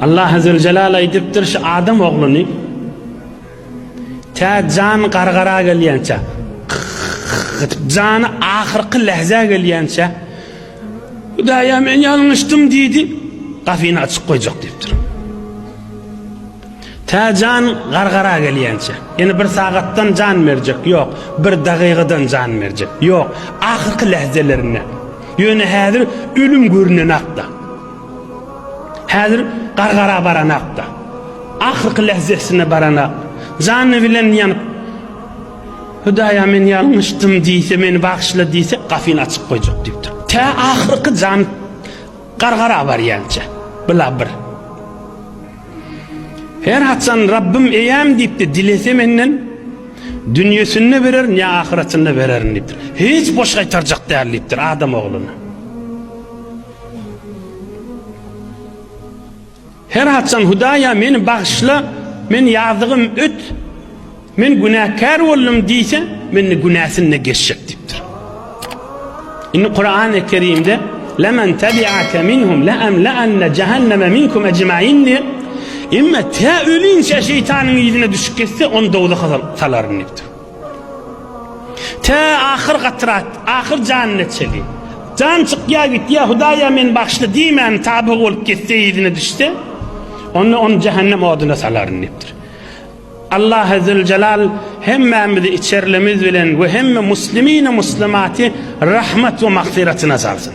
Allah Azzawajal aýdypdyr, şu adam ogluny tä jan gargara gelýänçä, jany ahyrky lehzä gelýänçä Hudaýa men ýalňyşdym diýdi, gafyny açyk goýjak diýipdir. Tä jan gargara gelýänçä. Ýene bir sagatdan jan berjek, ýok. Bir dagygadan jan berjek, ýok. Ahyrky lehzelerinde. Ýöne häzir ölüm görünen akda. Häzir gargara baranak-da. Ahyrky lähzesine baranak. Jany bilen ýanyp, Hudaýa men ýalňyşdym diýse, meni bagyşla diýse, gapyny açyp goýjak diýipdir. Tä ahyrky jany gargara barýança. Bula bir. Her haçan Rabbym eýäm diýipdir, dilese menden, dünýesinde bererin ýa ahyretinde bererin diýipdir. Hiç boş gaýtarjak däl diýipdir Adam ogluny. Her haçan Hudaýa meni bagyşla, men ýazygym öt, men günäkär boldum diýse, mende günäsini de geçjek diýipdir. Indi Kur'an-ı Kerimde "Lemen tabi'ake minhum la amla'anna cehenneme minkum ecmaîn" diýip, "Emma tä ölünçä şeýtanyň yzyna düşüp getse, ony dowzaha salaryn" diýipdir. Tä ahyr gatrat, ahyr janyna çeli. Jan çykýa gitýä, Hudaýa meni bagyşla diýmän tabygy bolup gitse yzyna düşse, onda ony jähennem oduna salaryn diýipdir. Allahy Züljelal hemmämizi içerlimiz bilen we hemme muslimini muslimaty rahmet we magfiratyna salsyn.